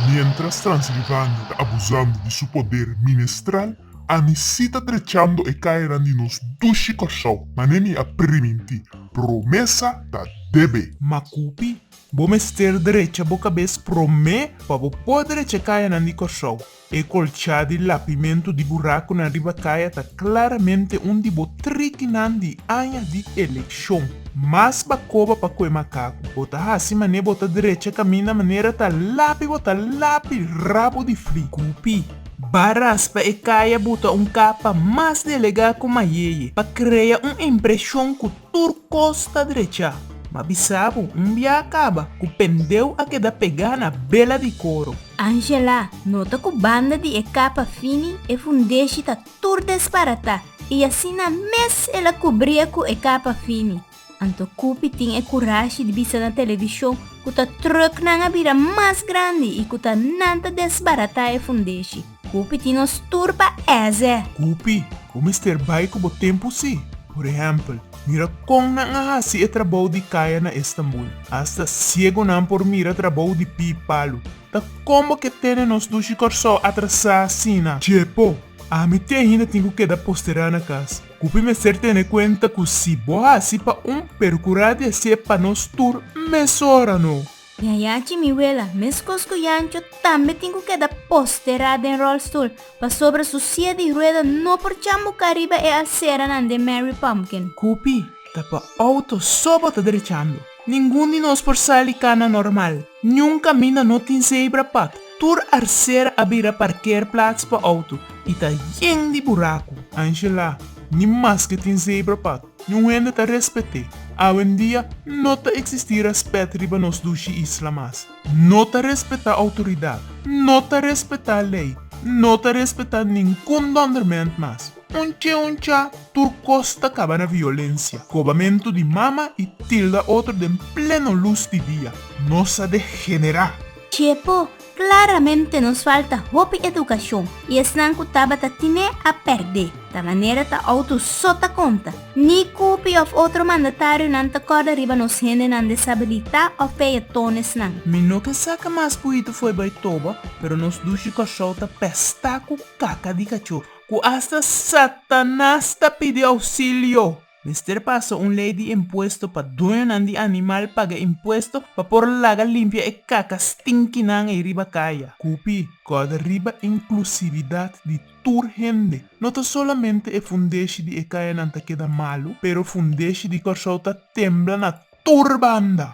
Mientras Transilvania ta abusando di su poder ministral, ami si ta trechando e cayanan di nos dushi Kòrsou. Manera mi a primintí, promesa ta debe. Makupi, bo mester drecha bo kabes promé pa bo por drecha e cayanan di Kòrsou. E colcha di lapimentu di buracunan riba caya ta claramente un di bo trikinan di aña di eleccion. Mas bacoba pa coe macacu, bo ta haci mane bo ta drecha caminda manera ta lapi bo ta lapi rabo di fli. Cupi, ba raspa e caya buta un capa mas delega cu mayeye pa crea un impresion cu Tur kos ta drechá, ma bisá bo, un bia a kaba ku pendeu a keda pegá na bela di koro. Angela nota ku banda di e kapa fini e fundeshi ta tur desbaratá i asina mes el a kubria ku e kapa fini. Anto Kupi tin e kurashi di bisa na televishon ku ta tròknan a bira mas grandi i ku ta nan ta desbaratá e fundeshi. Kupi tin nos tur pa èzè. Kupi, ku mester bai ku bo tempu si? Por ehèmpel, mira kon nan a hasi e trabou di kaya na Estambul. Asta siegunan por mira trabou di pi palu. Ta kon bo ke tene nos dushi Kòrsou atrasá asina? Chepo, ami te ainda tin ku keda posterá na kas. Kupi mester tene kuenta ku si bo hasi pa un pero ku radi hasié pa nos tur mesora no? Mi a yachi mi wela, meskos ku Yancho, tambe tin ku keda posterá den ròlstul pasobra su sia di rueda no por chambuká riba e alseranan den Mary Pumpkin. Kupi ta pa outo so bo ta drechando. Ningun di nos por sali kana normal. Niun kaminda no tin zebra pad. Tur alsera a bira parkeerplats pa outo i ta yen di buraku. Angela, Ni maske tin zebra pad, Nun hende ta respet'é. Awendia no ta eksistí rèspèt riba nos dushi isla mas. No ta respetá outoridat, no ta respetá lei, no ta respetá ningún dòndermènt mas. Un ch'é un chá, tur kos ta kaba na violensia, kobamentu di mama i tilda otro den pleno lus di dia. Nos a degenerá! Ch'é po Claramente nos falta hopi educacion y esnan cu tabata tine a perde. Ta manera ta auto so ta conta. Ni Cupi of otro mandatarionan ta corda riba nos hendenan desabilita of peatonesnan. Mi no ke sa ke mas buito fo'i bai toba, pero nos dushi Kòrsou ta pèstá ku kaka di kachó, ku asta Satanas ta pidi ousilio! Mester pasa un lei di impuesto pa dueñonan di animal paga impuesto pa por laga limpia e kaka stinkinan ei riba kaya. Kupi, kòrda riba inklusividat di tur hende. No ta solamente e fundeshi di e kayanan ta keda malu, pero fundeshi di Kòrsou ta tembla na tur banda.